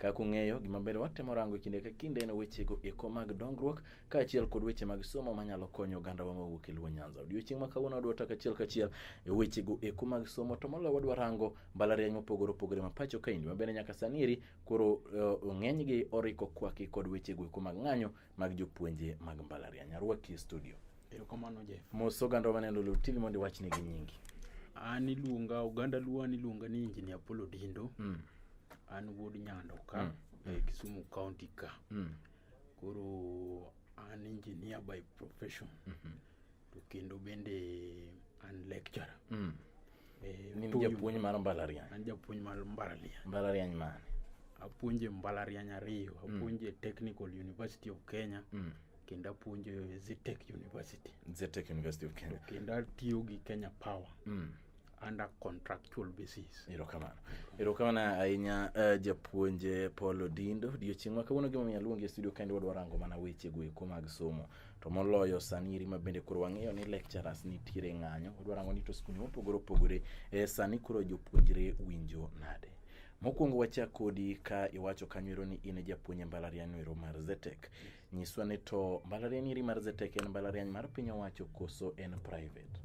Kaka ung'eyo, gima ber watemo rango e kinde ka kinde en wechego eko mag dongruok kaachiel kod weche mag somo manyalo konyo ogandawa mawuok e Luo Nyanza. Odiechieng' ma kawuono wadwa taka achiel kachiel e wechego eko mag somo to moloyo wadwa rango mbalariany mopogore opogore ma pacho kaendi mabende nyaka sani eri koro eh, ng'enygi oriko kwaki kod wechego eko mag ng'anyo mag jopuonje mag mbalariany. Arwaki e studio. Erokamano Jeff. Mos oganda maneno Lulu TV mondo iwachne gi nyingi. An iluonga oganda Luo an iluonga ni Injinia Apollo Dindo. Mm. An wuod Nyando ka mm. e mm. Kisumu County ka. Mm. Koro an engineer by profession. Mm -hmm. to kendo bende an lecturer mm. e, ni japuonj mar mbalariany an japuonj mar mbalariany mbalariany mane apuonje mbalariany ariyo mm. apuonje mm. technical university of kenya mm. kendo apuonje zetech university zetech university of kenya kendo atiyo gi kenya power mm. under contractual basis. Erokamano. Erokamano ahinya uh, japuonje Paul Odindo. Odiochieng' ma kawuono gimomiyo aluongi e studio kendo wadwa rango mana weche go eko mag somo. To moloyo sani eri ma bende koro wang'eyo ni lecturers nitiere ng'anyo. Wadwa rango ni to skunde mopogore opogore eh, sani koro jopuonjre winjo nade. Mokwongo wachak kodi ka iwacho kanyo ero ni in e japuonj e mbalariany ero mar Zetek. Yes. Nyiswa ni to mbalariany iri mar Zetek en mbalariany mar piny owacho koso en private?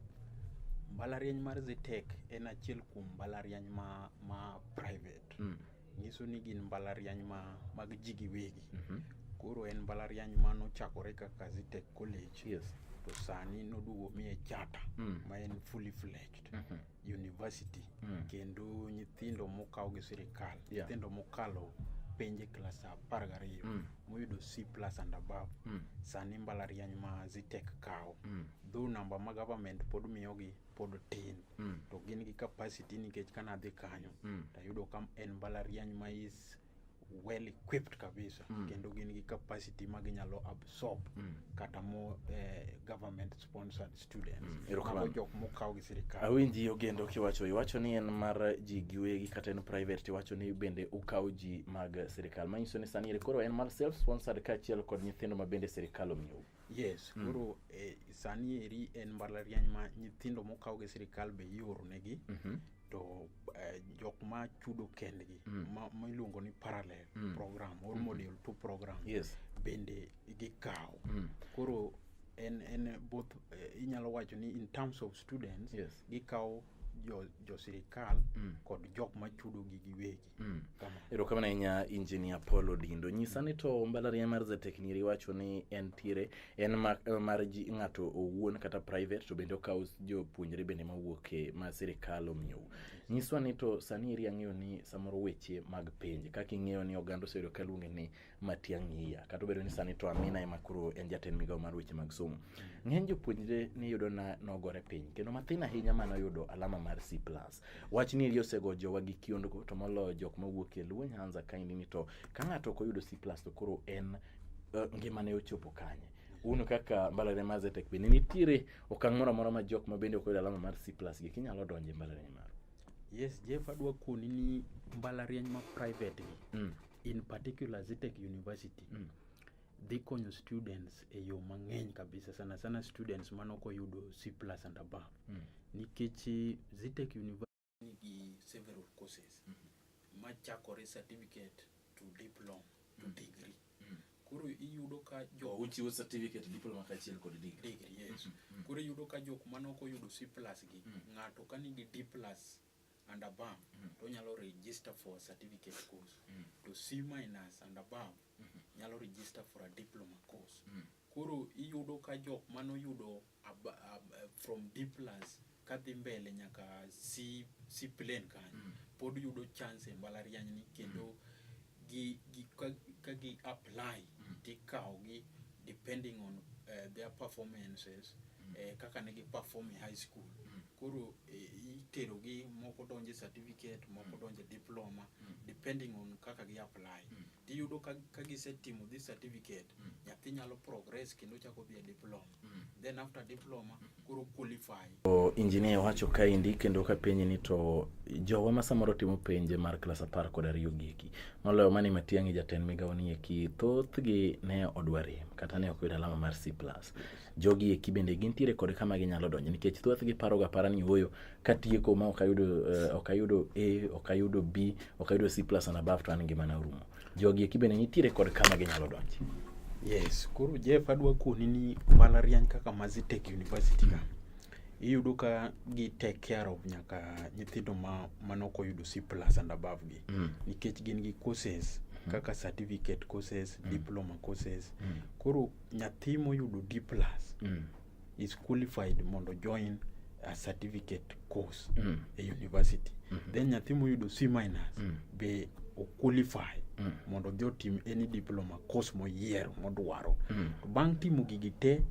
Mbalariany mar Zetek en achiel kuom mbalariany ma, ma private. Mm. Nyiso ni gin mbalariany ma, mag ji giwegi. Mm -hmm. Koro en mbalariany ma nochakore kaka Zetek College. Yes. To sani noduogo miye chata mm. ma en fully fledged. Mm -hmm. university mm. kendo nyithindo mokaw gi sirikal yeah. nyithindo mokalo penje klas apar gariyo mm. moyudo c plus and above mm. sani mbalariany ma zitek kawo mm. dho namba ma government pod miyogi pod tin mm. to gin gi capacity nikech kana dhi kanyo mm. tayudo ka en mbalariany ma is well equipped kabisa mm. kendo gin gi capacity ma ginyalo absorb mm. kata mo eh, government sponsored students mm. jok mokaw gi sirikal awinji ogendo kiwacho iwacho ni en mar ji giwegi kata en private tiwacho ni bende ukaw ji mag sirikal manyiso ni sani koro en mar self sponsored kaachiel kod nyithindo ma bende sirikal omiyo Yes, mm. koro mm. eh, sani eri en mbalariany ma nyithindo mokaw gi sirikal be ioro negi mm -hmm. to eh, jok ma chudo kendgi mm. ma, ma iluongo ni parallel mm. program or mm -hmm. model to program yes. bende gikaw mm. koro en en both eh, inyalo wacho ni in terms of students yes. gikaw jo, jo sirikal mm. kod jok ma chudo gi giwegi Mm. erokamano ahinya injinia paul odindo nyisa ni to mbalariany mar zatekniri wacho ni en tiere en ma- mar ji ng'ato owuon kata private to bende okawo jopuonjre bende mawuok e ma sirikal omiyou nyiswa ni to sani eri ang'eyo ni samoro weche mag penj kaka ing'eyo ni oganda oseyudo kaluonge ni Matiang'i Iya. Kata obedo ni sani to Amina ema koro en jatend migawo mar weche mag somo. Ng'eny jopuonjre niyudo na nogore piny kendo mathin ahinya mane oyudo alama mar C+. Wach ni eri osego jowa gi kiondgo to moloyo jok mawuok e Luo Nyanza kaendi ni to ka ng'ato ok oyudo C+ to koro en eh, ngimane ochopo kanye. Un kaka mbalariany mar Zetech bende nitiere okang' moro amora ma jok ma bende ok oyudo alama mar C+ gi kinyalo donje mbalariany maru. Yes, Jeff adwa koni ni mbalariany ma private gi Mm. in particular Zitec University mm. dhi konyo students e yo mang'eny kabisa sana sana students manok oyudo C plus and above mm. nikech eh, Zitec University nigi several courses mm -hmm. machakore certificate to diploma to mm. degree mm. koro iyudo ka jok oh, uchiwo certificate diploma kaachiel kod degree degree yes mm -hmm. koro iyudo ka jok manok oyudo C plus gi mm. ng'ato ka nigi D plus and above mm -hmm. to nyalo register for a certificate course mm -hmm. to C minus and above mm -hmm. nyalo register for a diploma course mm -hmm. koro iyudo ka jok mano yudo ab, ab, from D plus kadhi mbele nyaka C, C plane kanyo mm -hmm. pod yudo chance e mbalariany ni kendo mm -hmm gi gi ka, ka gi apply mm. tikawo gi depending on uh, their performances mm. eh, kaka ne gi perform e high school mm. koro eh, itero gi moko donje certificate moko mm. donje diploma mm. depending on kaka gi apply mm. tiyudo ka, ka gisetimo this certificate mm. nyathi nyalo progress kendo chako dhi e diploma then after diploma koro qualify o engineer wacho kaendi kendo ka penye ni to jowa ma samoro timo penje mar klas apar kod ariyo gieki moloyo mani matiang'i jatend migawo ni eki thothgi ne odwa rem kata ne ok yud alama mar c plus jogi eki bende gintiere kod kama ginyalo donjo nikech thothgi paroga para ni ooyo katieko ma ok ayudo eh, ok ayudo a ok ayudo b ok ayudo c plus and above to an ngimana orumo Jogi eki bende nitiere kod kama ginyalo donje. Yes, koro Jeff adwa koni ni mbalariany kaka Mazitech University ka. Iyudo ka gi take care of nyaka nyithindo ma manok oyudo C plus and above gi. Mm. Nikech gin gi courses mm. kaka certificate courses, mm. diploma courses. Mm. Koro nyathi moyudo D plus mm. is qualified mondo join a certificate course mm. e university mm -hmm. then nyathi moyudo C minus mm. be oqualify mm. mondo odhi otim any diploma course moyiero modwaro mm. to bang' timo gigi te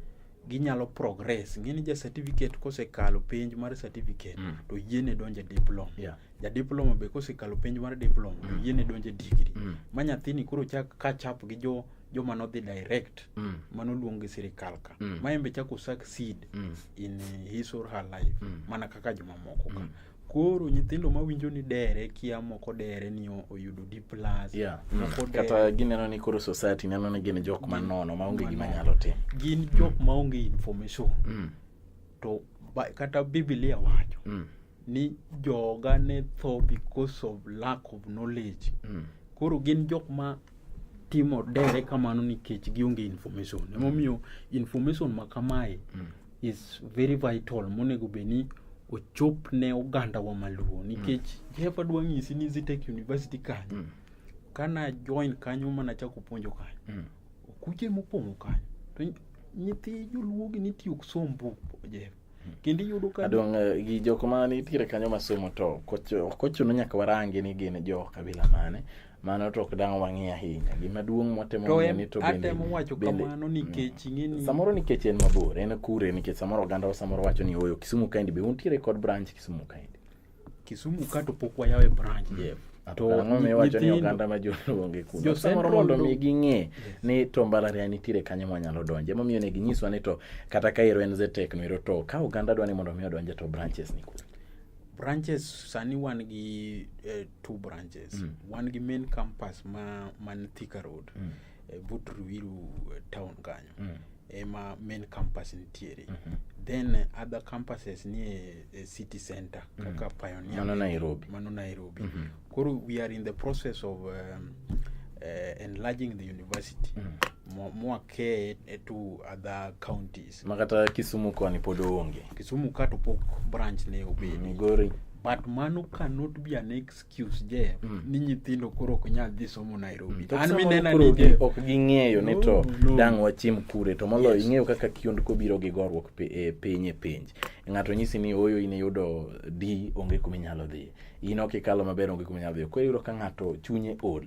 ginyalo progress ng'eni ja certificate kosekalo penj mar certificate mm. to yiene donje diploma yeah. ja diploma be kosekalo penj mar diploma mm. to yiene donje degree mm. ma nyathini koro chak kachap gi jo joma nodhi direct mm. mano luong gi sirikal ka mm. ma embe chako succeed mm. in his or her life mm. mana kaka jomamoko ka mm. koro nyithindo ma winjo ni dere kia moko dere ni oyudo D plus yeah. mm. kata gineno ni koro society neno ni gin jok manono maonge gima nyalo tim gin mm. jok maonge information mm. to ba, kata biblia wacho mm. ni joga ne tho because of lack of knowledge mm. koro gin jok ma timo dere kamano nikech gionge information mm. emomiyo information ma kamae mm. is very vital monego bed ni ochop ne oganda wa maluo mm. nikech mm. jefa dwa ng'isi ni zitech university kanyo mm. kana join kanyo mana chako puonjo kanyo mm. okuche mopong'o kanyo to nyithi joluogi nitiyo somo buk jefa kendo iyudo ka adong eh, gi jok ma nitiere kanyo masomo to kochuno nyaka warangi ni gin jo kabila mane mano to ok dang' wang'e ahinya gima duong' mwatemo ng'eni to atemo wacho kamano mm. nikech ing'eni samoro nikech en mabor en kure nikech samoro oganda samoro wacho ni oyo Kisumu kaendi be untiere kod branch Kisumu kaendi Kisumu ka to pok wayawe branch yeah. to ang'o miwacho ni oganda ma joluonge kuno samoro mondo mi ging'e ni to mbalariany nitiere kanyo mwanyalo donje emomiyo ne ginyiswa ni to kata ka ero en zetek no ero to ka oganda dwa ni mondo mi odonje to branches ni kuno branches sani wan gi eh, two branches mm. wan gi main campus ma man Thika road mm. e, but Ruiru e, town kanyo mm. ema main campus nitiere mm -hmm. then e, other campuses nie e, city center mm. kaka Pioneer mano Nairobi, mano Nairobi. Mm -hmm. koro we are in the process of um, uh, enlarging the university mm. mwakee eh, to other counties makata Kisumu koni pod onge Kisumu ka to pok branch ne obedi mm, Migori but mano cannot be an excuse kiusje mm. ni nyithindo koro ok nyal dhi somo Nairobi mm. an minena ni je ok ging'eyo ni to no. dang wachiem kure to moloyo yes. ing'eyo kaka kiond kobiro gi gorruok pe, e, piny e penj ng'ato nyisi ni oyo in iyudo D onge kuma inyalo dhi in ok ikalo maber onge kuma inyalo dhi koro iyudo ka ng'ato chunye ol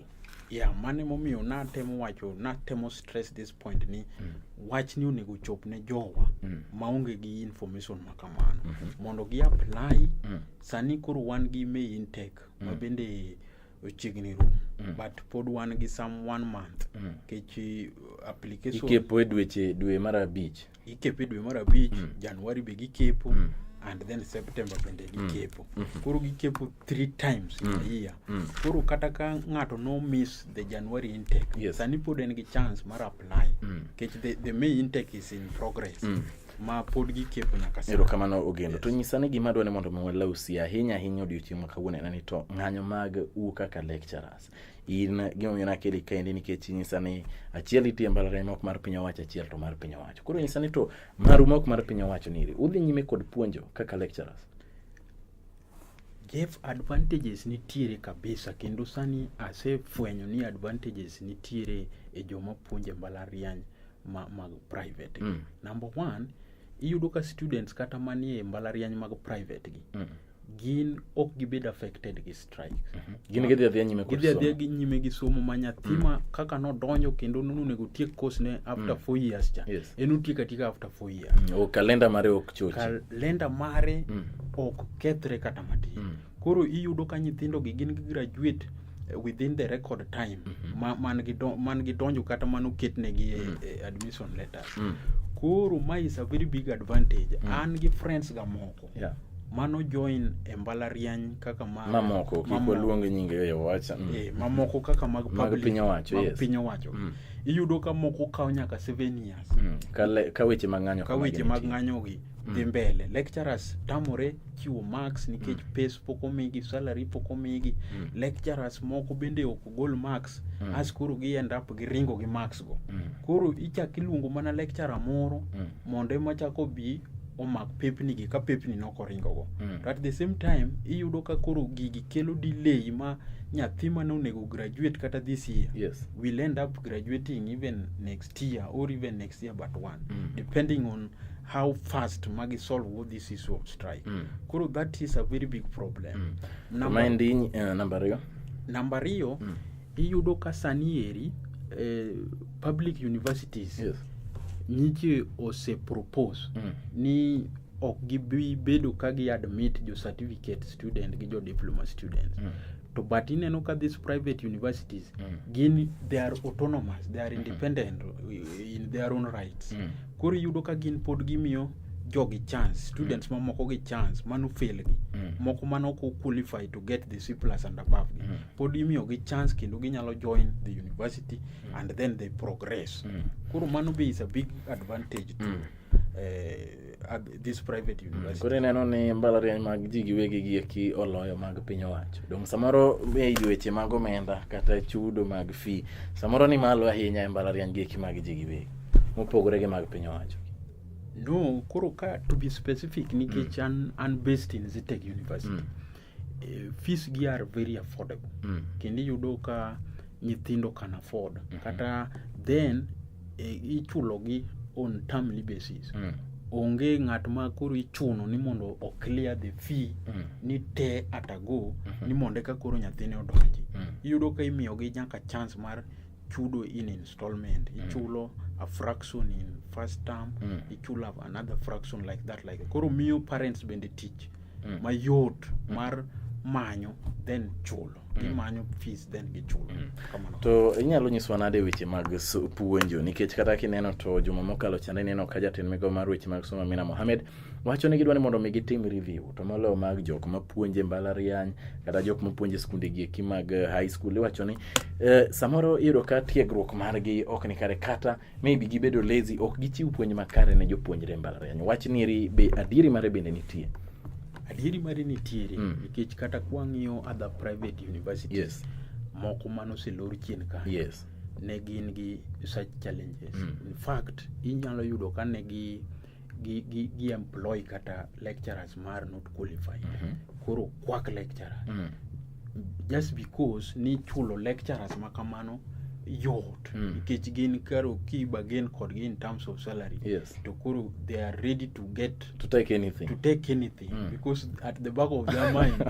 ya yeah, mane momiyo natemo wacho natemo stress this point ni mm. wach ni onego chop ne jowa mm. maonge gi information ma kamano mm -hmm. mondo gi apply mm. Sani koro wan gi May intake mm. ma bende ochiegni rum mm. but pod wan gi some one month mm. kech uh, application ikepo e dweche dwe mar abich ikepo e dwe mar abich mm. January be gikepo mm. and then September bende mm. gikepo mm. mm. koro gikepo three times in mm. a year mm. koro kata ka ng'ato no miss the January intake yes. sani pod en gi chance mar apply mm. kech the, the May intake is in progress mm. ma pod gikepo nyaka sani. Erokamano Ogendo. Yes. To nyisa ni gima dwani mondo walaw si ahinya ahinya odiochieng' ma kawuono en ni to ng'anyo mag u kaka lecturers. In gima omiyo nakeli kaendi nikech nyisa ni achiel itie mbalariany mok mar piny owacho achiel to mar piny owacho. Koro nyisa ni to maru mok mar piny owacho niri. Udhi nyime kod puonjo kaka lecturers. Jeff, advantages nitiere kabisa kendo sani asefwenyo ni advantages nitiere e joma puonje mbalariany ma, mag private mm. number one iyudo ka students kata manie mbalariany mag private gi mm. gin ok gibed affected gi strike mm -hmm. gin gidhi adhiya nyime gidhi adhiya gi nyime gi somo ma nyathi mm. ma kaka nodonjo kendo nonego otiek course ne after mm. four years cha yes. en otiek atika after four years mm. o kalenda mare ok chochi kalenda mare mm. ok kethre kata matin mm. Koro iyudo ka nyithindogi gin gi graduate eh, within the record time mm -hmm. ma, man, gi don, man gi donjo kata man oketnegi mm -hmm. eh, admission letters mm -hmm. koro ma is a very big advantage mm -hmm. an gi friends ga moko yeah mano join e mbalariany kaka mamoko kik waluong nyinge e wacha mm. e, mamoko kaka mag mag piny owacho yes. piny owacho mm. iyudo ka moko kawo nyaka 7 years mm. ka, le, ka weche mag ng'anyo ka weche mag ng'anyogi mm. dhi mbele lecturers tamore chiwo marks nikech mm. pes pok omigi salary pok omigi mm. lecturers moko bende ok gol marks mm. as koro gi end up gi ringo gi marks go mm. koro ichak iluongo mana lecturer moro mm. mondo ema chak obi omak pepni gi ka pepni nok oringo go mm. to at the same time iyudo ka koro gigi kelo delay ma nyathi mane onego graduate kata this year yes. will end up graduating even next next year or even next year but one mm. depending on how fast magi solve all this issue of strike mm. koro that is a very big problem mm. number, Mind, uh, eh, number ariyo number ariyo mm. iyudo ka sani eri eh, public universities yes. nyiche ose propose mm. ni ok gibi bedo ka gi admit jo certificate student gi jo diploma students mm. to but ineno ka these private universities mm. gin they are autonomous they are mm-hmm. independent mm -hmm. in their own rights mm. koro iyudo ka gin pod gimiyo jogi chance students mm. mamoko gi chance mano fail gi mm. moko mano ko qualify to get the C plus and above gi mm. pod imiyo gi chance kendo ginyalo join the university mm. and then they progress mm. koro mano be is a big advantage to mm. uh, this private mm. university. Koro ineno ni mbalariany mag ji giwegi gi eki oloyo mag piny owacho. Dong samoro e weche mag omenda kata chudo mag fee samoro ni malo ahinya e mbalariany gi eki mag ji giwegi mopogore gi mag piny owacho. No, koro ka to be specific nikech mm. an, an based in Zitec University. Mm. e, fees gi are very affordable mm. kendo iyudo ka nyithindo can afford mm -hmm. kata then e, ichulogi on termly basis mm. onge ng'at ma koro ichuno ni mondo o clear the fee mm. ni te atago mm -hmm. ni mondo eka koro nyathine odonji mm. iyudo ka imiyogi nyaka chance mar chudo in installment mm. ichulo a fraction in first term mm. ichulo another fraction like that like that. koro miyo parents bende tich mm. mayot mm. mar manyo then chulo mm. gimanyo fees then gichulo mm. kamano to inyalo nyiswa nade weche mag puonjo nikech kata kineno to juma mokalo chande ineno ka jatend migawo mar weche mag somo Amina Mohamed wacho ni gidwa ni mondo mi gitim review to moloyo mag jok mapuonje mbalariany kata jok mapuonje skunde gieki mag eh, high school iwacho ni eh, samoro iyudo ka tiegruok margi ok ni kare kata maybe gibedo lazy ok gichiw puonj makare ne jopuonjre mbalariany wach niri be adieri mare bende nitie adieri mare nitiere mm. nikech kata kwang'iyo other private universities yes. moko manoselor chien ka yes. ne gin gi such challenges mm. in fact inyalo yudo ka ne gi gi, gi, gi employ kata lecturers ma are not qualified mm -hmm. koro kwak lecturer mm -hmm. just because ni chulo lecturers ma kamano yot mm. nikech mm. gin karo kiba gin kodgi in terms of salary yes. to koro they are ready to get to take anything to take anything mm. because at the back of their mind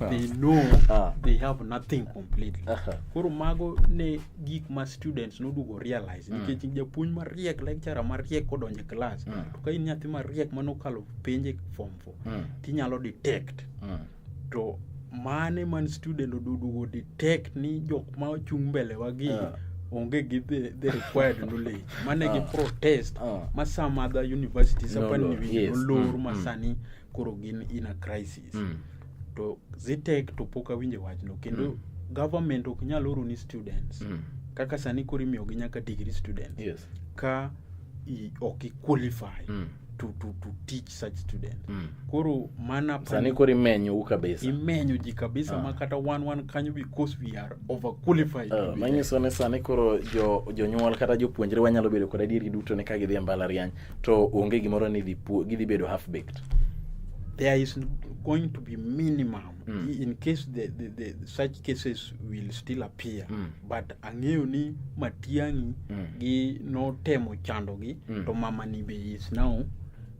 they know ah. they have nothing completely uh -huh. koro mago ne gik ma students noduogo realize mm. nikech mm. japuonj mariek lecturer mariek kodonje klas mm. to ka in nyathi mariek manokalo penje form four mm. tinyalo detect mm. to mane man student oduogo detect ni jok ma ochung' mbele wagi yeah onge gi the, the required knowledge mane gi ah. protest ah. ma some other universities no, apani no, yes. olor mm, mm. masani mm. koro gin in a crisis studies mm. to zitek to pok awinje wachno kendo mm. government ok nyal oro ni students mm. kaka sani koro imiyogi nyaka degree students yes. ka i, ok iqualify mm to, to, to teach such students mm. koro mana sani koro imenyo u kabisa imenyo ji kabisa ah. ma kata wan wan kanyo because we are over qualified uh, ah, manyiso ni sani koro jo jonyuol kata jopuonjre wanyalo bedo kod adieri duto ni ka gidhi e mbalariany to onge gimoro ni dhi puo- gidhi bedo half baked there is going to be minimum Mm. i- in case the, the, the such cases will still appear Mm. but ang'eyo ni matiang'i Mm. gi notemo chandogi Mm. to mama ni be is now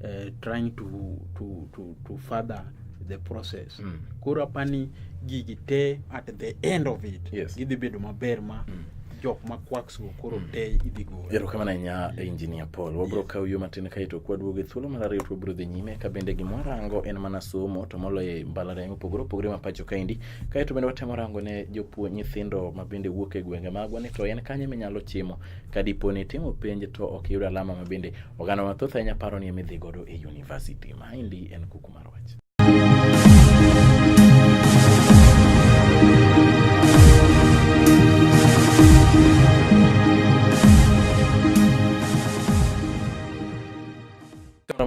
uh, trying to, to, to, to further the process Mm. koro apani gigi te at the end of it Yes. gidhi bedo maber ma Mm. jok ma quacks go koro mm. te idhi gol erokamano ahinya engineer paul wabiro kawo yo matin kae to kwaduogo e thuolo mar ariyo to wabiro dhi nyime ka bende gima warango en mana somo to moloyo e mbalariany opogore opogore ma pacho kaendi kae to bende watemo rango ne jopuonj nyithindo ma bende wuok e gwenge magwa ni to en kanye minyalo chimo ka dipo ni timo penj to ok iyud alama ma bende oganda mathoth ahinya paro ni emidhi godo e university maendi en kuku mar wach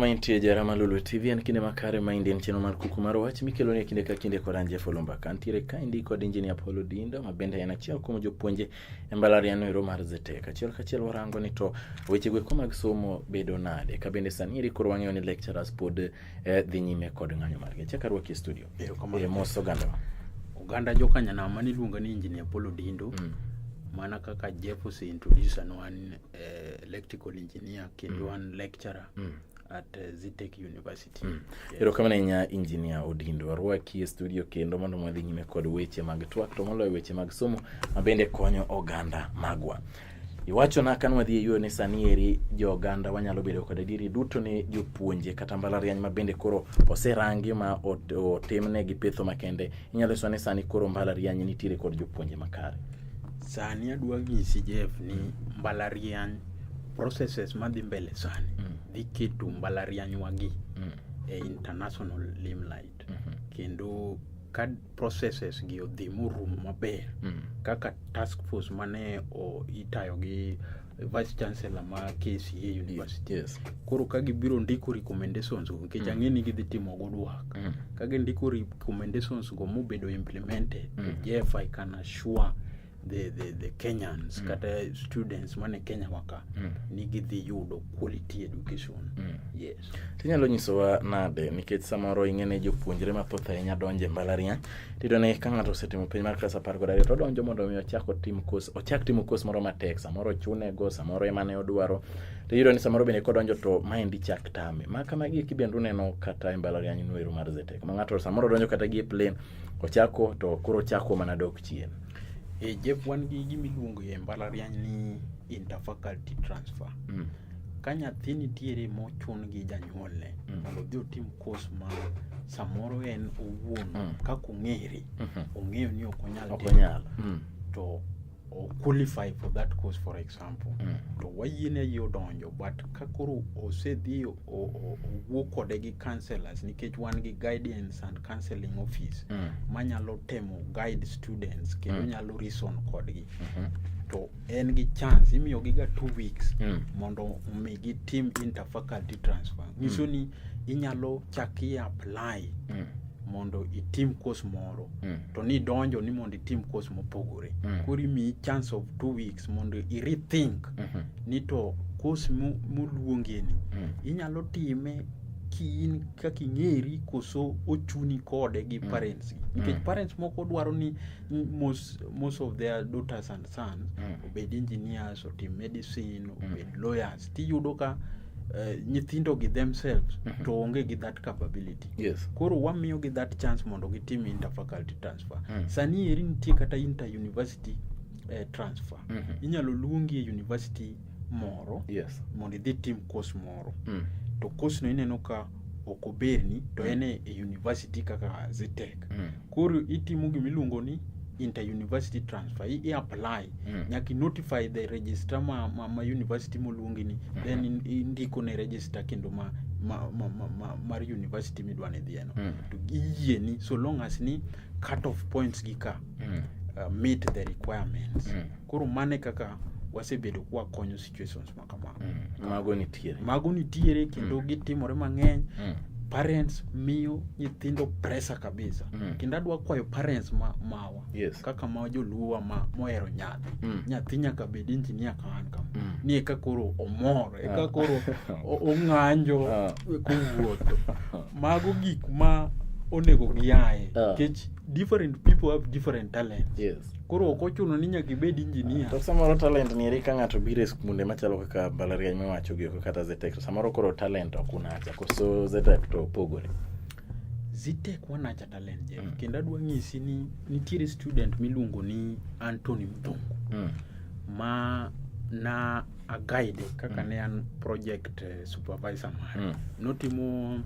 Mantie jara ma Lulu TV en kinde makare ma indien cheno mar kuku mar wach mikelo ne kinde ka kinde kod Anje Folumba kantiere ka indi kod injinia Paulo Dindo ma bende en achiel kuom jopuonje e mbalariano ero mar Zetek. Achiel kachiel warango ni to weche gweko mag somo bedo nade. Ka bende sani iri koro wang'eyo ni lecturers pod eh, dhi nyime kod ng'anyo margi achak arwaki e studio Erokamano. eh, mos ogandawa oganda jokanyanama niluonga ni engineer polo dindo Mm. mana kaka jeff oseintroduce an wan eh, electrical engineer kendo wan lecturer Mm. at eh, zitech university Yes. erokamano ahinya injinia odindo arwaki e studio kendo mondo mwadhi nyime kod weche mag twak to moloyo weche mag somo mabende konyo oganda magwa Iwachona ka nwadhi e yuone sani eri jo oganda wanyalo bedo kod adieri duto ne jopuonje kata mbalariany ma bende koro oserangi ma ot- otimne gi petho makende. Inyalo nyiswa ni sani koro mbalariany nitiere kod jopuonje makare. sani adwa nyisi jeff ni mbalariany processes madhi mbele sani Mm. dhi keto mbalariany wagi Mm. e international limelight mhm. kendo ka processes gi odhi morumo maber mm. kaka task force mane itayo gi vice chancellor ma KCA University yes. koro ka gibiro ndiko recommendations go nikech mm. ang'e ni gidhi timo go dwak mm. ka gindiko recommendations go mobedo implemented mm. Jeff I can assure the, the, the Kenyans mm. kata students mane Kenya waka mm. nigi dhi yudo quality education mm. yes. Tinyalo nyisowa nade nikech samoro ing'e ne jopuonjre mathoth ahinya donje mbalariany tiyudo ni ka ng'ato osetimo penj mar klas apar kod ariyo to odonjo mondo mi ochak otim kos ochak timo kos moro matek samoro ochune go samoro ema ne odwaro to iyudo ni samoro bende kodonjo to maendi chak tame ma kama gi kibende uneno kata e mbalariany nwero mar Zetech ma ng'ato samoro donjo kata gi e plane ochako to koro ochako mana dok chien E Jeff wan gi gima iluongo e mbalariany ni interfaculty transfer. Mm. Ka nyathi nitiere mochun gi janyuolne mm. mondo odhi otim kos ma samoro en owuon mm. kaka ong'ere mm -hmm. ong'eyo ni ok onyal timo mm. to o qualify for that course for example mm. to wayiene yie odonjo but ka koro osedhi owuo kode gi counselors nikech wan gi guidance and counseling office mm. manyalo temo guide students kendo mm. nyalo reason kodgi mm -hmm. to en gi chance imiyogi ga two weeks mm. mondo omi gitim interfaculty transfer nyiso mm. ni inyalo chaki apply mm. mondo itim course moro mm. to ni donjo ni mondo itim course mopogore mm. koro imiyi chance of two weeks mondo i rethink mm -hmm. ni to course moluongeni mm. inyalo time kiin kaka ing'eri koso ochuni kode gi mm. parents mm. nikech mm. parents moko dwaro ni most, most of their daughters and sons mm. obed engineers otim medicine obed mm. lawyers tiyudo ka eh, nyithindo gi themselves mm -hmm. to onge gi that capability yes. koro wamiyo gi that chance mondo gitim interfaculty transfer mm -hmm. sani eri nitie kata inter university eh, transfer mm -hmm. inyalo luongi e university moro yes. mondo idhi tim course moro mm. to course no ineno ka ok oberni to mm. en e university kaka zitek mm. Koro itimo gima iluongo ni inter-university transfer i apply mm. nyaka notify the register ma, ma, ma university moluongi ni mm -hmm. then indiko ne register kendo ma, ma, ma, ma, ma, mar university midwa ni dhieno mm. to iyieni so long as ni cut off points gi ka mm. uh, meet the requirements mm. koro mane kaka wasebedo kwakonyo situations kama mm. mago nitiere mago nitiere kendo mm. gitimore mang'eny mm. parents miyo nyithindo pressure kabisa mm. kendo adwa kwayo parents ma, mawa yes. kaka ma joluowa ma mohero nyathi mm. nyathi nyaka bed injinia kaan kama mm. ni eka koro omor eka ah. koro ong'anjo ah. kowuotho mago gik ma onego giaye ah. nikech different people have different talents yes. Koro ok ochuno ni nyaka ibed injinia. To samoro talent ni eri ka ng'ato biro e skunde machalo kaka mbalariany miwacho gi oko kata Zetech to samoro koro talent ok unacha koso Zetech to opogore. Zetech wanacha talent Jeff mm. kendo adwa nyisi ni nitiere student miluongo ni Anthony Mthungu mm. ma na a guide kaka mm. ne an project eh, supervisor mare mm. notimo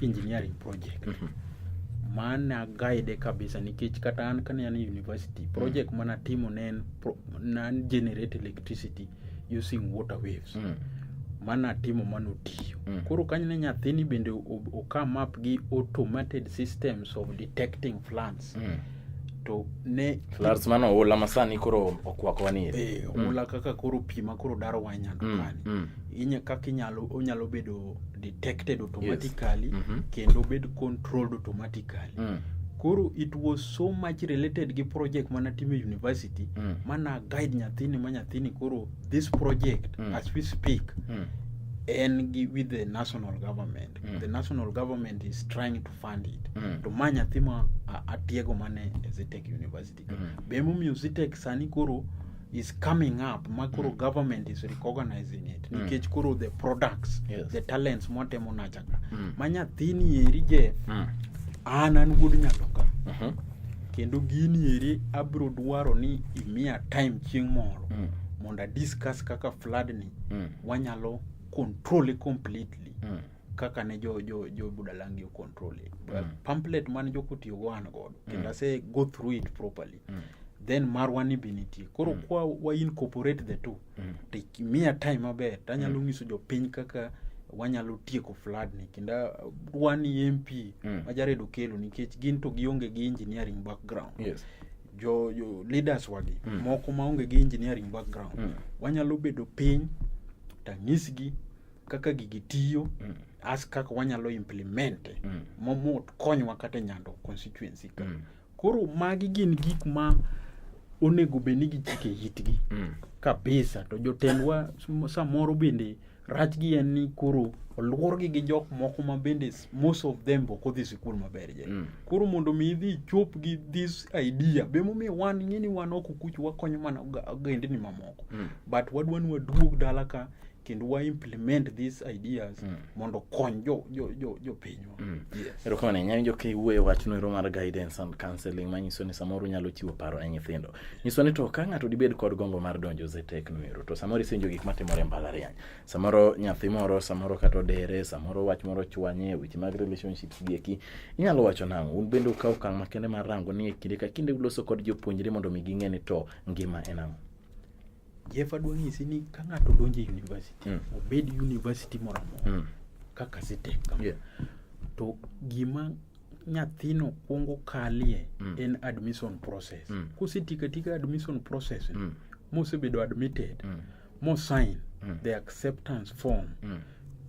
engineering project mm -hmm. mane aguide kabisa nikech kata an kane an university mm. project mm. mana timo ne en nan generate electricity using water waves mm. mana timo mano tiyo mm. koro kanyo ne nyathini bende okam up gi automated systems of detecting plants mm. to ne Floods mano oula ma sani koro okwakowa ni eri. eh, oula kaka koro pi ma koro daro wa nyando Mm, kani mm. inya kaka inyalo onyalo bedo detected automatically Mhm. kendo bed controlled automatically Mm, koro it was so much related gi project mana timo e university Mm. mana guide nyathini ma nyathini koro this project Mm. as we speak mm. en gi with the national government Mm. the national government is trying to fund it Mm. to ma nyathi ma a- atiego mane e Zitech University ka. Mm. be emomiyo Zitech sani koro is coming up ma koro government is recognizing it Mm. nikech koro the products Yes. the talents mwatemo nacha ka Mm. ma nyathini eri je Mm. an an wuod nyato ka Mhm. kendo gini eri abiro dwaro ni imiya time chieng' moro Mm. mondo adiscuss kaka flood ni Mm. wanyalo control completely Mm. kaka ne jo jo jo budalangi o control it but mm. pamphlet man jo kutiyo go an godo mm. kendo ase go through it properly mm. then marwa ni be nitie koro mm. kwa wa incorporate the two mm. to miya time maber tanyalo mm. nyiso jopiny kaka wanyalo tieko flood ni kendo uh, wani mp mm. majaredo kelo nikech gin to gionge gi engineering background yes jo, jo leaders wagi mm. moko maonge gi engineering background mm. wanyalo bedo piny tang'isgi kaka gigi tiyo mm. as kaka wanyalo implemente mm. momo konywa kata nyando constituency ka mm. koro magi gin gik ma onego bed ni gichike itgi mm. kabisa to jotendwa samoro bende rachgi en ni koro oluorgi gi jok moko ma bende most of them ok odhi sikul maber je mm. koro mondo mi idhi ichop gi this idea be momiyo wan ng'e ni wan ok okuch wakonyo mana ogendni mamoko mm. but wadwa ni waduog dala ka kendo wa implement these ideas mm. mondo okony jo, jo, jo, jo pinywa mm. yes. erokamano ahinya winjo ka iwuoyo wachno ero mar guidance and counseling manyiso ni samoro unyalo chiwo paro ne nyithindo nyiso ni to ka ng'ato dibed kod gombo mar donjo zetek noero to samoro isenjo gik matimore e mbalariany samoro nyathi moro samoro kata odere samoro wach moro chwanye weche mag relationships gieki inyalo wacho nang'o un bende ukaw okang' makende mar rango ni e kinde ka kinde uloso kod jopuonjre mondo mi ging'e ni to ngima en ang'o Jeff adwa nyisi ni ka ng'ato donjo e university, mm. obed university moro amora mm. kaka Citec kama, yeah. to gima nyathino kwongo kalie mm. en admission process. Mm. Kosetika tika admission process, mm. mosebedo admitted, mm. mosign mm. the acceptance form, mm.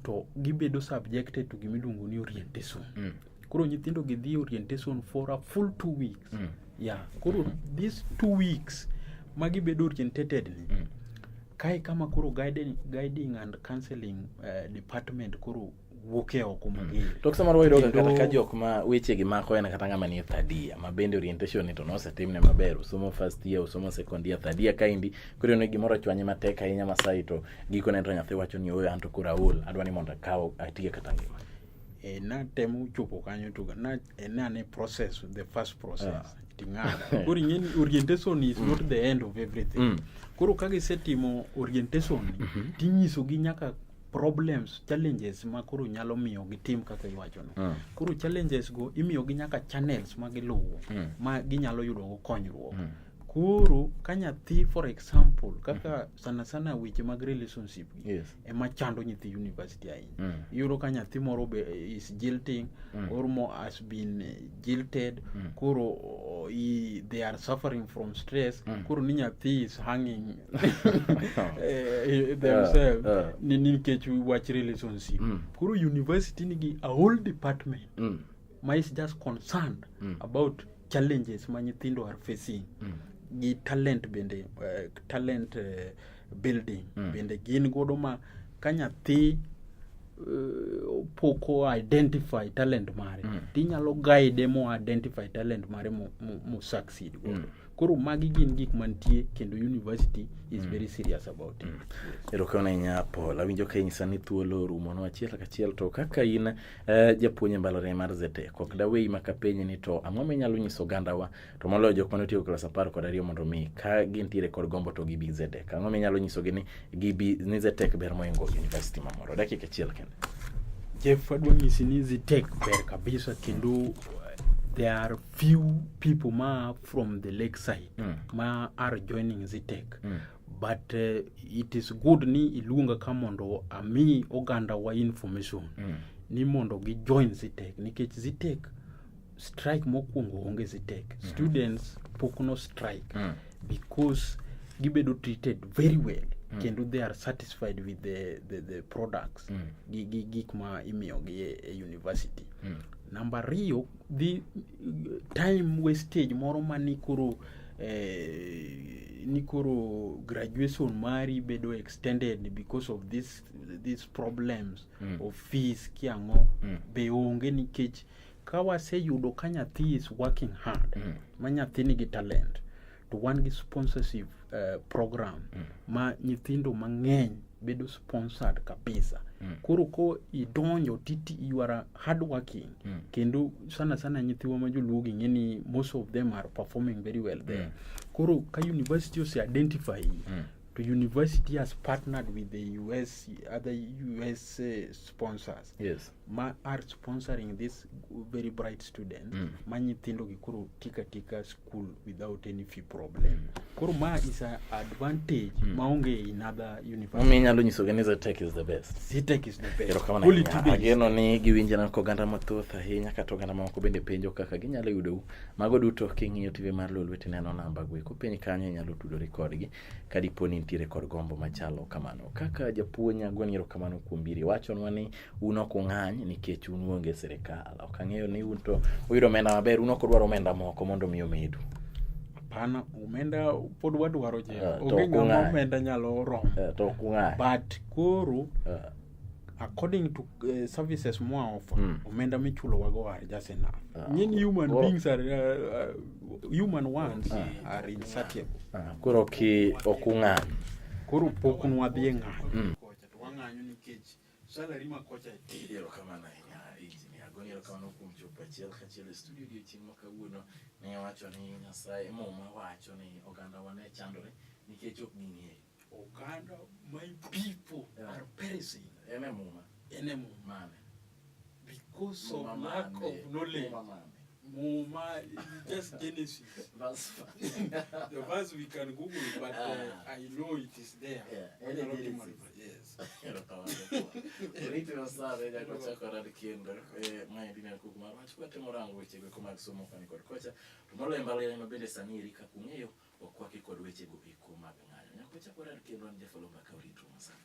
to gibedo subjected to gima iluongo ni orientation. Mm. koro nyithindo gi dhi orientation for a full two weeks mm. yeah koro mm -hmm. these two weeks ma gibedo orientated ni mm. kae kama koro guiding, guiding and counseling uh, department koro wuok e oko mm. mager mm. to kisa mar wayudo kata ka jok ma weche gi mako en kata ng'ama ni thadia ma bende orientation ni to nosetimne maber usomo first year usomo second year thadia kaendi koro yone gimoro chwanye matek ahinya masai to gikone to nyathi wacho ni oyo an to koro aol adwa ni mondo akaw atie kata ngima e, eh, natemo chopo kanyo to na e, nane process the first process yeah. ting'ada koro ing'eni orientation is mm. not the end of everything mm. koro ka gisetimo orientation mm -hmm. tinyisogi nyaka problems challenges ma koro nyalo miyo gitim kaka iwachono mm. koro challenges go imiyogi nyaka channels ma giluwo mm. ma ginyalo yudogo konyruok mm. koro ka nyathi for example kaka mm -hmm. sana sana weche mag relationship yes. ema chando nyithi university ahinya mm. iyudo ka nyathi moro be eh, is jilting mm. or mo has been eh, jilted mm. koro oh, i, they are suffering from stress mm. koro ni nyathi is hanging eh, themselves uh, uh. ni nikech wach relationship mm. koro university nigi a whole department mm. ma is just concerned mm. about challenges ma nyithindo are facing mm. gi talent bende uh, talent uh, building mm. bende gin godo ma ka nyathi uh, pok o identify talent mare mm. tinyalo guide mo identify talent mare mo, mo, mo succeed godo mm. koro magi gin gik mantie kendo university is mm. very serious about it mm. erokamano ahinya paul awinjo ka inyisa ni thuolo orumono achiel kachiel to kaka in uh, japuonj e mbalariany mar zete kok daweyi makapenyi ni to ang'o minyalo nyiso ogandawa to moloyo jok mane otieko klas apar kod ariyo mondo mi ka gintiere kod gombo to gibi zedek ang'o minyalo nyisogi ni gibi ni zetek ber moingo university mamoro dakika achiel kende jeff adwa nyisi ni zetek ber kabisa kendo uh, there are few people ma from the lake side mm. ma are joining zetek mm but uh, it is good ni iluonga ka mondo ami oganda wa information mm. ni mondo gi join zitek nikech zitek strike mokwongo onge sitek mm -hmm. students pok no strike mm. because gibedo treated very well mm. kendo they are satisfied with the, the, the products mm. gi, gi gik ma imiyogi e, e university mm. namba ariyo dhi time wastage moro ma ni koro eh, ni koro graduation mari bedo extended because of this, these problems mm. of fees kiang'o mm. be onge nikech Ka waseyudo ka nyathi is working hard, mm. ma nyathi nigi talent, to wan gi sponsorship uh, program mm. ma nyithindo mang'eny bedo sponsored kabisa mm. koro ko idonjo titi you are hard working mm. kendo sana sana nyithiwa ma joluo gi ng'eni most of them are performing very well there mm. koro ka university ose identify mm. to university has partnered with the us other us uh, sponsors yes. ma are sponsoring this very bright student mm. ma nyithindo gi koro tika tika school without any fee problem mm. koro ma is a advantage mm. ma onge in other university mi nyalo nyiso gani za tech is the best si tech is the best kama na ageno ni giwinje na ko ganda mathoth ahinya kata ganda ma ko bende penjo kaka ginyalo yudo u mago duto king'iyo tv mar lolwete neno namba gwe ko piny kanyo nyalo tudore kodgi kadiponi nitiere kod gombo machalo kamano kaka japuonj agwenyo kamano kuom biri wachonwa ni un ok ung'any nikech un uonge sirikal. Ok ang'eyo ni un to uyudo omenda maber, un ok udwar omenda moko mondo mi omedu. Hapana, omenda pod wadwaro je. Eh, to Onge ok ng'ama ung'any. omenda nyalo romo. Eh, To ok ung'any. But koro Eh, according to uh, services moa offer Mm. omenda michulo wago are just enough Ah. nyin human Koro- beings are uh, uh, human ones Ah. are insatiable ah, Koro ki ok ung'any. koro pok nwadhi e ng'anyo Mm. Salary ma kocha. Ero kamano ahinya injinia Goni, ero kamano kuom chopo achiel kachiel e studio odiechieng' ma kawuono. Ne wacho ni Nyasaye muma wacho ni oganda wane chandore nikech ok ging'eyo. Oganda my people yeah. are perishing. Ene muma. Ene muma. Mane. Because muma of lack mame. of knowledge. Muma mame. Muma, just Genesis. That's fine. the verse we can Google, but uh, ah. I know it is there. Yeah. Yes. Ritiro saa ne nyaka wachak warad kendo eh, ma en Dina Kuku mar wach kwatemo rango wechego eko mag somo koni kod kocha to moloyo mbalariany ma bende sani eri kaka ung'eyo okwaki kod wechego eko mag ng'anyo nyaka wachak warad kendo an Jafalo Mbaka Orito Masani.